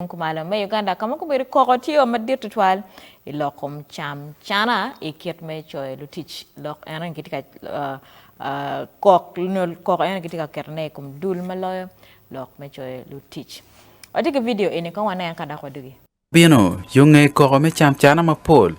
Tung kumalo me Uganda ka ma gubedo koko tye o madit tutwal i lok kom cam cana i kit me coyo lutic lok eno gitye ka kok nyo koko eno gitye ka keto ne i kom dul ma loyo lok me coyo lutic. Watye ki vidio eni kong wanen ka dok wadugi. Bino, yo ngeye koko me cam cana mapol.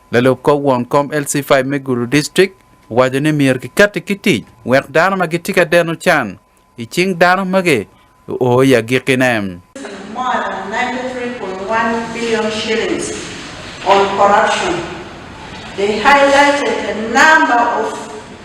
Lalub kor won kom LC5 me Gulu District owaco ni myero kikatti ki tic wek dano ma gitye ka deno can i cing dano magi guo i agikkine.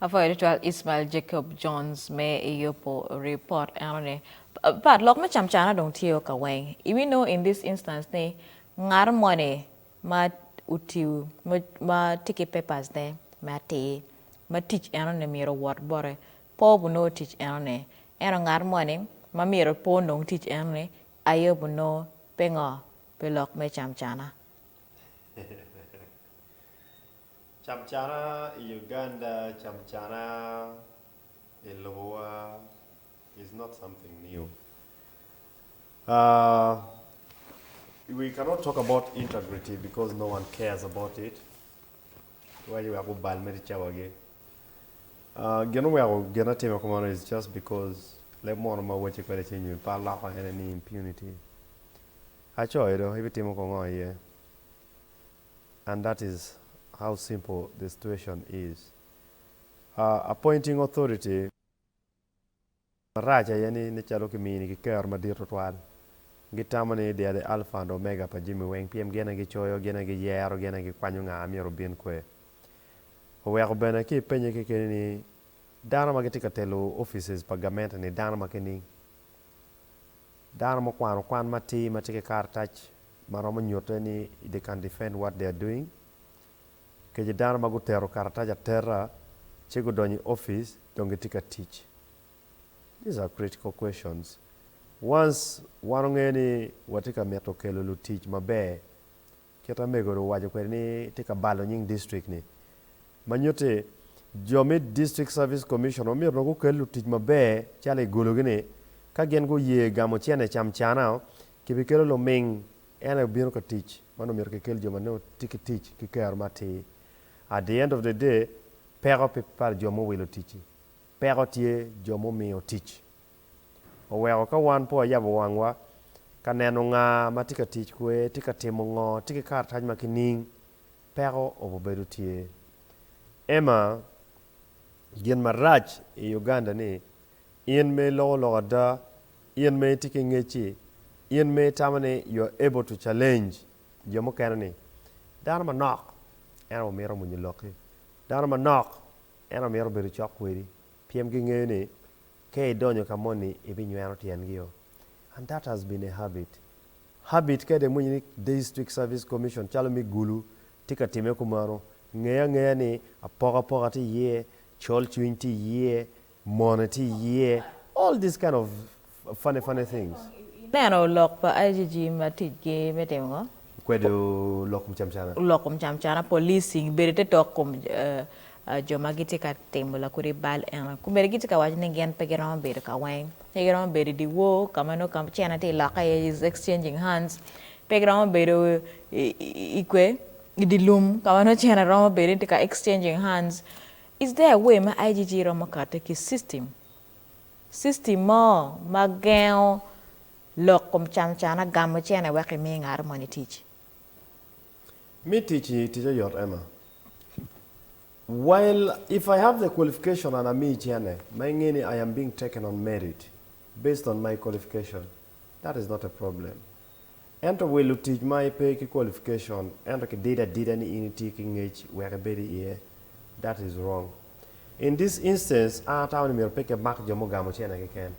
Apwoyo tutwal Ismael Jacob Jones me i yubo report eno ni. But lok me camcana dong tye o ka weng. I we know in this instance ni ngat moni ma utiu ma tye ki papers ne me atir ma tic eno ni myero owot bote po buno tic eno ni eno ngat moni ma myero po nong tic eno ni aye buno pingo pi lok me camcana. Camcana i Uganda, camcana i lobowa is not something new. We cannot talk about integrity because no one cares about it. Iwaco wek gubal mere cawagi. Gin oweko gin atime kumano is just because leb mono ma awaci kwede ci nyo pa aloko ene ni impunity. Acoyi do ibitimo ko ngo aye and that is how simple the situation is ahh appointing authority marac aye ni calo kimini ki kero madit tutwal gitamo ni they are the alpha and omega pa jami weng pien gin aye gicoyo gin aye giyero gin aye gikwanyo nga myero obin kwe oweko bene ki ipenye kekeni ni dano ma gitye ka telo offices pa gamente ni dano ma kining? Dano ma okwano kwan matir ma tye ki karatac ma romo nyutte ni They Can Defend What They Are Doing, kece dano ma guteto karatac ateta ci gudonyo i opic dong gitye ka tic. These are critical questions. Once wan ongeyo ni watye ka mito kelo lutic maber, Kit ma mego-ru owaco kwede ni tye ka balo nying district-ni ma nyutti, jo me District Service Commission omyero dong gukel lutic maber calo i gologi-ni. Ka gin guye gamo cene camcana, kibikelo luming en aye bino ka tic. Man omyero kikel jo ma nongo tye ki tic ki kero matir. At the end of the day, peko pe pa jo mowilo tic-ci, peko tye jo mumiyo tic oweko ka wan pe wayabo wangwa ka neno nga ma tye ka tic kwe, tye ka timo ngo, tye ki karatac ma kining, peko obibedo tye. Emma, Gin marac i Uganda ni, in ma iloko lok ada, in ma itye ki ngec-ci, in ma itamo ni you are able to challenge jo mukene ni, dano manok en aye mito mwonyo lokki, dano manok en aye mito bedo cok kwedi, pien gingeyo ni Ka idonyo ka moni ibinywero tyengi o and that has been a habit habit ka dong iwinyo ni District Service Commission calo me Gulu tye ka time kumano nge angeya ni apokapoka tye iye, colcwiny tye iye, mone tye iye all these kind of funny funny things. Ineno lok pa IGG ma ticgi me timo ngo? Kwedo lok kom camcana. Lok kom camcana, policing, bedo te tok kom jo ma gitye ka timo lakodi bal eno. Komedi gitye ka waco ni gin pe giromo bedo ka weng. Pe giromo bedo i dyewor ka ma nongo camcana tye lokke iye, is exchanging hands. Pe giromo bedo i kwe, i dye lum ka ma nongo cene romo bedo ni tye ka exchanging hands. Is there a way ma IGG romo kati ki system, system mo ma gengo Lok kom canocana, Gamo cene wek imi ngaro moni tic. Mi tic-ci tic oyot Emma. While if I have the qualification and amiyi cene ma inge ni I am being taken on merit based on my qualification that is not a problem ento wilo tic ma ipe ki qualification ento kidido adida ni in itye ki ngec wek ibed iye that is wrong. In this instance, an atamo ni myero pe kimak jo mugamo cene keken.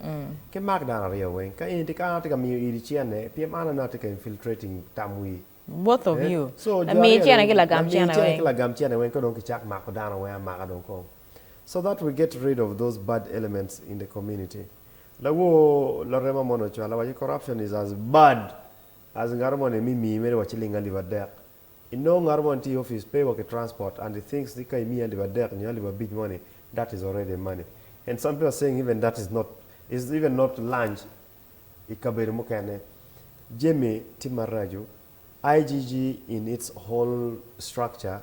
Kimak dano aryo weng. Ka in ka an atye ka miyo iri cene, pien an nongo atye ka infiltrating tam wi. Both of you. So jo Lamiyi aryo-ni, cene ki lagam lamiyi cene cene weng. ki lagam cene weng, ka dong kicak mako dano weng amaka dong kong. So that we get rid of those bad elements in the community. Lawoo Larema moni ocwale waco corruption is as bad as ngato moni emimii mere wa ciling alip adek. I nongo ngato moni tye i office pay wa ki transport and he thinks ni ka imiye alip adek nyo alip abic moni that is already money and some people are saying even that is not is even not lunch I kabedo mukene jami tye maraco IGG in its whole structure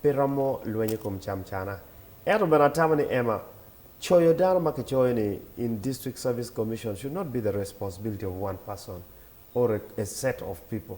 pe romo lwenyo ikom cam cana ento bene atamo ni Emma coyo dano ma kicoyo ni in district service commission should not be the responsibility of one person or a set of people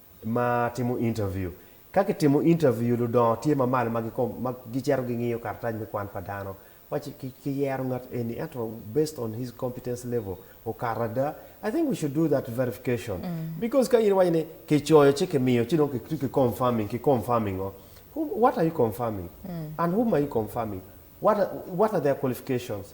ma timo intaviu. Ka kitimo intaviu, ludongo tye ma malo ma gicito gingiyo karatac me kwan pa dano ma kiyero ngat eni ento based on his competence level okato ada, I think we should do that verification because ka in iwaco ni kicoyo ci kimiyo ci dong kitye ki confirming, ki confirming ngo? What are you confirming and whom are you confirming? What are their qualifications?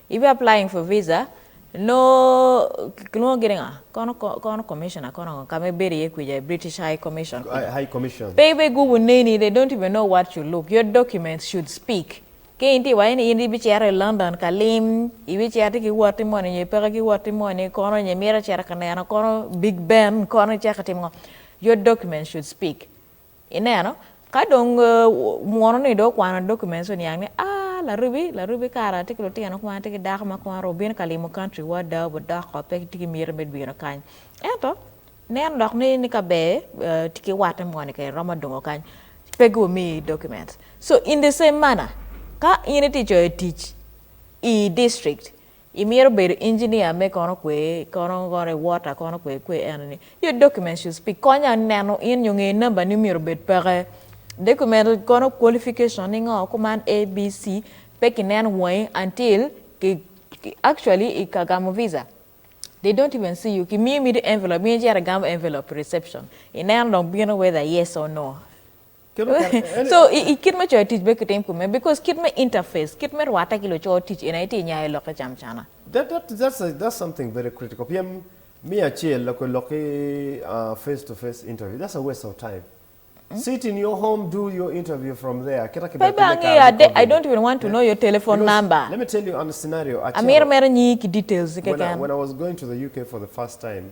Ibi applying for visa noo kilwongo gini nga kono kono commissioner kono ngo kama ibedo iye kwica i British High Commission kuca. High Commission. Pe ibe gubu neni de don't even know what you look your documents should speak ka in tye iwaco ni in ibi cito i London ka lim ibi cito ki wotti moni nyo ipeke ki wotti moni kono nyo imito cito ka neno kono Big Ben kono icako itimo ngo your documents should speak Ineno? Ka dong munu ni dong okwano documents ci oniang ni aah Laribi, Laribi kara atye ki lutino kong atye ki dako ma kong aru bino ka limo country wa ada obi doko pe tye ki miti me bino kany. Ento neno dok ni ni ka ber tye ki watte moni kene romo dongo kany pe gu mi documents. So in the same manner ka in itye coyo tic i district Imito bedo engineer me kono kwe kono kono water kono kwe kwe eno ni your document should speak konya neno in nyo nge number ni myero obed peke document kono qualification ni ngo kuman ABC pe ki neno wangi until ki actually i ka gamo visa they don't even see you ki miyo miti envelope in icito igamo envelope i reception ineno dong bino whether yes or no. So i kit me coyo tic be kitim kome because kit me interface, kit me rwatte ki luco tic eni aye itye inyayo lok ki cam cana. That that that's a that's something very critical pien me acel loko lok ki face to face interview that's a waste of time sit in your home do your interview from there kita ki Baby bene kare angeyo, me I don't even want to know your telephone because number. let me tell you on a scenario Amito atero mito nyingi ki details-i when I, keken. when I was going to the UK for the first time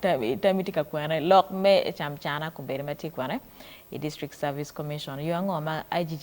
Tammy tye ka kwene lok me camcana kombeddi ma tye kwene i District Service Commission. Yo ango ma IGG